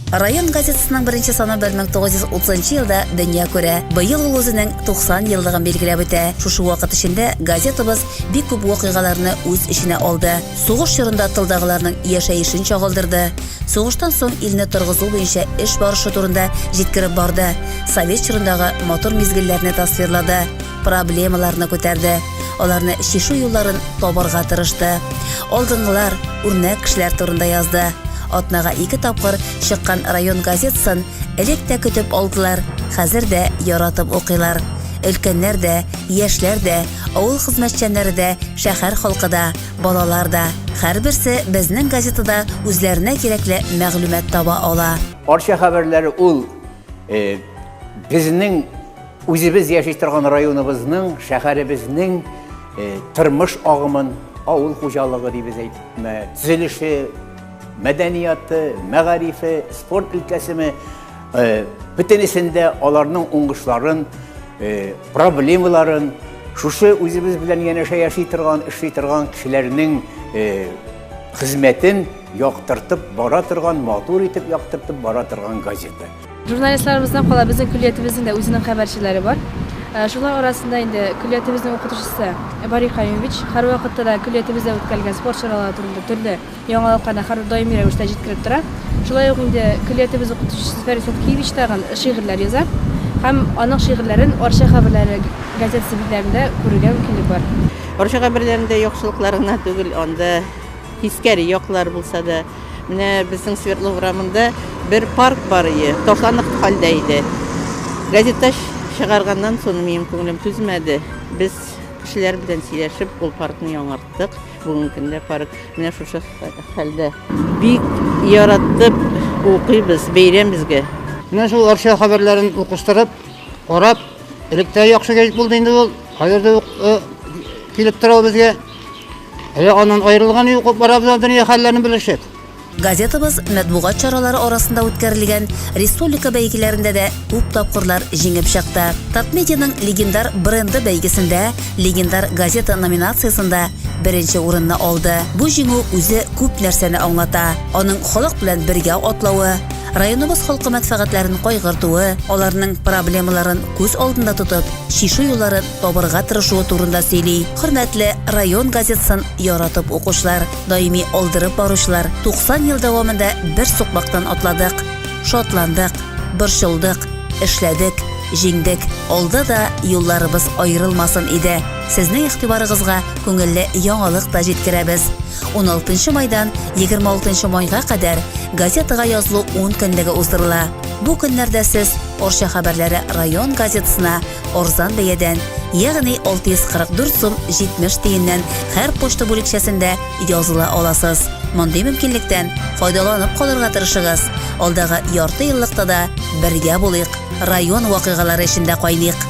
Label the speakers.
Speaker 1: Район газетасының беренче саны 1930 елда дөнья күрә. Быел ул үзенең 90 еллыгын билгеләп үтә. Шушы вакыт эчендә газетабыз бик күп вакыйгаларны үз эченә алды. Сугыш чорында тылдагыларның яшәешен чагылдырды. Сугыштан соң илне торгызу буенча эш барышы турында җиткереп барды. Совет чорындагы матур мизгелләрне тасвирлады. проблемаларны күтәрде, аларны чишү юлларын табарга тырышты. Алдынгылар, үрнәк кешеләр турында язды. Атнага ике тапкыр чыккан район газетасын элек тә көтеп алдылар, хәзер дә яратып укыйлар. Өлкәннәр дә, яшьләр дә, авыл хезмәтчәннәре дә, шәһәр халкы да, балалар да. Һәрберсе безнең газетада үзләренә кирәкле мәгълүмат таба ала. Арча хәбәрләре
Speaker 2: ул безнең Үзебез яши торган районыбызның, шәһәребезнең тормыш агымын, авыл хуҗалыгы дибез әйтме, төзелеше, мәдәнияты, мәгарифе, спорт өлкәсеме, бөтенесендә аларның уңышларын, проблемаларын, шушы үзебез белән янәшә яши торган, эшли торган кешеләрнең хезмәтен яктыртып бара торган, матур итеп яктыртып бара торган газета. Журналистларыбыздан
Speaker 3: кала безнең көллиятебезнең дә үзенең хәбәрчеләре бар. Э, шулар арасында инде көллиятебезнең укытучысы Бари Каюмович һәрвакытта да көллиятебездә үткәрелгән спорт чаралары турында төрле яңалыкларны һәр даими рәвештә җиткереп тора. Шулай ук инде көллиятебез укытучысы Зөфәр Исәткиевич тагын шигырьләр яза һәм аның шигырьләрен Арча хәбәрләре газетасы битләрендә күрергә мөмкинлек бар. Арча хәбәрләрендә
Speaker 4: яхшылыклар гына түгел, анда тискәре яклар булса да, Менә безнең Свердлов урамында бер парк бар ие, ташланып хәлдә иде. Газетта чыгарганнан соң минем күңелем түзмәде. Без кешеләр белән сөйләшеп, ул паркны яңарттык. Бүгенге көндә парк менә шушы хәлдә. Бик яраттып укыйбыз, бәйрәм безгә. Менә шул Арча
Speaker 5: хәбәрләрен укыштырып, карап, электә яхшы гәҗит булды инде ул. Хәзер дә ук килеп тора ул безгә. Әле аннан аерылган юк, бара белән дөнья хәлләрен белешеп. Газетабыз
Speaker 1: мәтбугат чаралары арасында үткәрелгән республика бәйгеләрендә дә күп тапкырлар җиңеп чыкты. Татмедианың легендар бренды бәйгесендә, легендар газета номинациясендә беренче урынны алды. Бу җиңү үзе күп нәрсәне аңлата. Аның халык белән бергә атлавы, районыбыз халкы мәнфәгатьләрен кайгыртуы, аларның проблемаларын күз алдында тотып, чишү юлларын табырга тырышуы турында сөйли. Хөрмәтле район газетасын яратып укучылар, даими алдырып баручылар, 90 ел дәвамында бер сукмактан атладык, шатландык, борчылдык, эшләдек, җиңдек. Алда да юлларыбыз аерылмасын иде. Сезнең игътибарыгызга күңелле яңалык та җиткерәбез. 16 майдан 26 майга кадәр газетага язылу 10 көнлеге уздырыла. Бу көннәрдә сез Орча хәбәрләре район газетасына арзан бәядән, ягъни 644 сум 70 тиеннән һәр почта бүлекчәсендә языла аласыз. Мондый мөмкинлектән файдаланып калырга тырышыгыз. Алдагы ярты еллыкта да бергә булыйк, район вакыйгалары эчендә кайныйк.